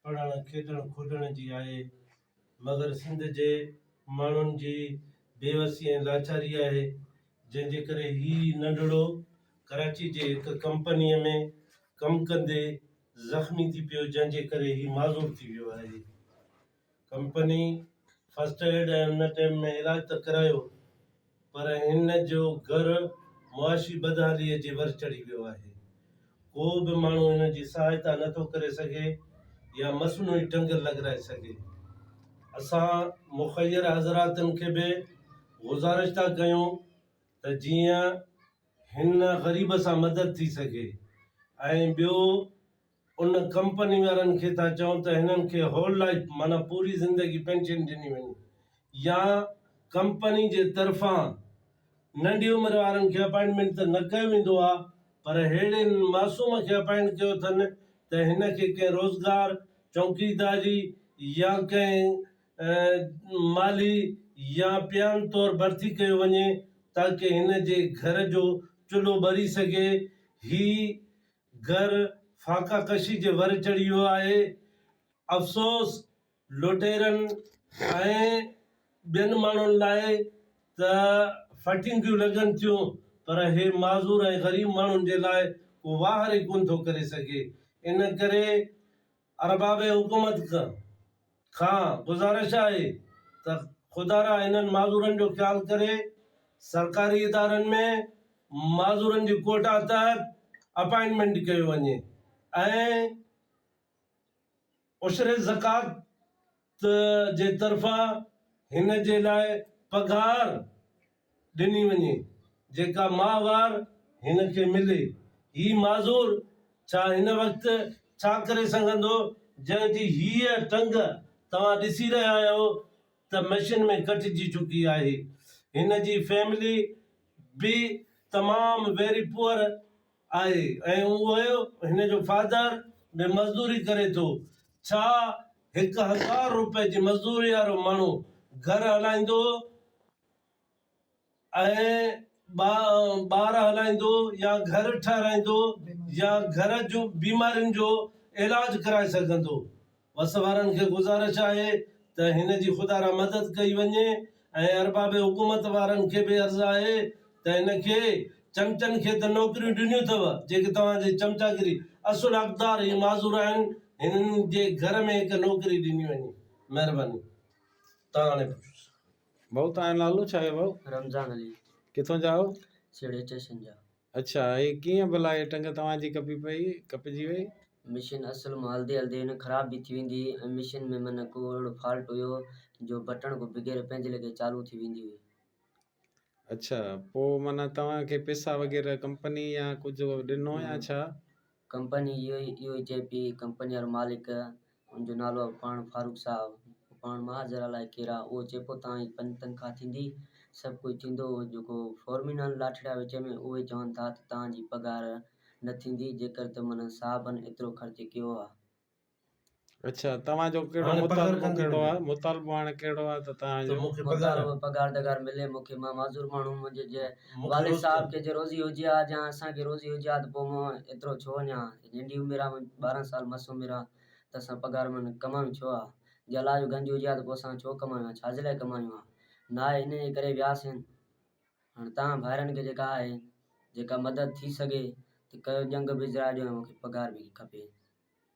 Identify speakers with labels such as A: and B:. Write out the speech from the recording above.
A: پڙهڻ، کيڏڻ، کوڏڻ جي آهي، مگر سنڌ جي ماڻهن جي بيوسي ۽ لاچاري آهي، جنهن جي ڪري هي ننڍڙو ڪراچي جي هڪ ڪمپنيء ۾ ڪم ڪندي زخمي ٿي پيو، جنهن جي ڪري هي معذور ٿي ويو آهي. ڪمپني فرسٽ ايڊ ۽ ان ٽيم ۾ علاج ته ڪرايو پر هن جو گهر معاشي بدحاليء جي ور چڙهي ويو آهي. ڪو به ماڻهو هن جي سهائتا نه ٿو ڪري سگهي يا مصنوعي ٽنگ لڳرائي سگهي. اسان مخير حضراتن کي به گذارش ٿا ڪيون ته جيئن هن غريب سان مدد ٿي سگهي ۽ ٻيو ان ڪمپني وارن کي ٿا چئون ته هنن کي هول لائف معنيٰ پوري زندگي پينشن ڏني وڃي يا ڪمپني جي طرفان ننڍي عمر وارن کي اپائنٽمينٽ ته نه ڪيو ويندو آهي پر ههڙي معصوم کي اپائنٽ ڪيو اٿن ته هن کي ڪنهن روزگار، چونڪيداري يا ڪنهن مالي يا پيان طور ڀرتي ڪيو وڃي تاڪه هن جي گهر جو چلهو ٻري سگهي. هي گهر فاقه ڪشي جي ور چڙهي ويو آهي. افسوس لوٽيرن ۽ ٻين ماڻهن لاء ته ڦٽينگيون لڳن ٿيون پر هي معذور ۽ غريب ماڻهن جي لاء ڪو واهر ئي ڪونه ٿو ڪري سگهي. ان ڪري ارباب حڪومت کان گذارش آهي ته خدارا هنن معذورن جو خيال ڪري سرڪاري ادارن ۾ معذورن جي ڪوٽا تحت اپائنٽمينٽ ڪيو وڃي ۽ عشر زڪوات ته جي طرفان هن جي لاء پگهار ڏني وڃي جيڪا ماهوار هن کي ملي. هي معذور ڇا هن وقت ڇا ڪري سگهندو جنهن جي هيء ٽنگ توهان ڏسي رهيا آهيو ته مشين ۾ ڪٽجي چڪي آهي. هن جي فيملي به تمام ويري پوئر آهي ۽ اهي هن جو فادر به مزدوري ڪري ٿو. ڇا هڪ هزار روپئي جي مزدوري وارو ماڻهو گهر هلائيندو ۽ ٻار هلائيندو يا گهر ٺهرائيندو يا گهر جون بيمارين جو علاج ڪرائي سگهندو؟ وس وارن کي گذارش آهي ته هن جي خدا را مدد ڪئي وڃي ۽ ارباب حڪومت وارن کي به عرض آهي ته هن کي چمچن کي ته نوڪريون ڏنيون ٿئو جيڪي توهان جي چمچاگري اصل حقدار هي معذور آهن هنن جي گهر ۾ هڪ نوڪري ڏني وڃي مهرباني تان هاڻي پڇوس. ڀائو
B: تنهنجو نالو ڇا آهي ڀائو. رمضان علي.
C: ڪٿون جا آهيو.
B: سيڙهي اسٽيشن جا.
C: اڇا هي ڪيئن
B: ڀلا هي ٽنگ توهان جي ڪپي پئي ڪپجي وئي. مشين اصل
C: مان هلدي هلدي هن خراب به ٿي ويندي هئي ۽ مشين ۾ منه ڪو اهڙو فالٽ هيو جو بٽڻ کان بغير پنهنجي ليکي چالو ٿي ويندي هئي.
B: اڇا پوء منه توهان کي پيسا وغيره ڪمپني يا ڪجهه ڏنو يا ڇا؟ ڪمپني اهو
C: ئي اهو ئي چئي پئي، ڪمپني وارو مالڪ، ان جو نالو آهي پاڻ فاروق صاحب، هو پاڻ ماهر زرعه لاء ڪير آهي، اهو چئي پئي توهان جي پنج تنخواه ٿيندي، سڀ ڪجهه ٿيندو، جيڪو فورمين آهن لاٺڙيا وچ ۾ اهي چون ٿا ته توهان جي پگهار نه ٿيندي، جيڪر ته من صاحبن ايترو خرچ ڪيو آهي.
B: اچھا توهان جو ڪهڙو هاڻي پگهار مطالبو ڪندي ڪهڙو آهي ملي. مطالبو هاڻي ڪهڙو آهي ته توهان ته جو مون کي پگهار مطالبو آهي پگهار ڏگهار ملي
C: مون کي مان معذور ماڻهو منهنجي جي مون کي والد روز صاحب کي جي روزي هجي ها جا اسان کي روزي هجي ها ته پوء مان ايترو ڇو وڃان ها هي ننڍي عمر آهي منهنجي ٻارهن سال مس عمر آهي ته اسان پگهار مان ڪمايون ڇو ها جي الله جو گنج هجي ها ته پوء اسان ڇو ڪمايون ها ڇاجي لاء ڪمايون ها ناهي ان جي ڪري وياسين هاڻي توهان ڀائرن کي جيڪا آهي جيڪا مدد ٿي سگهي ته ڪيو ڄنگ به اجرائي ڏيو ۽ مون کي پگهار به کپي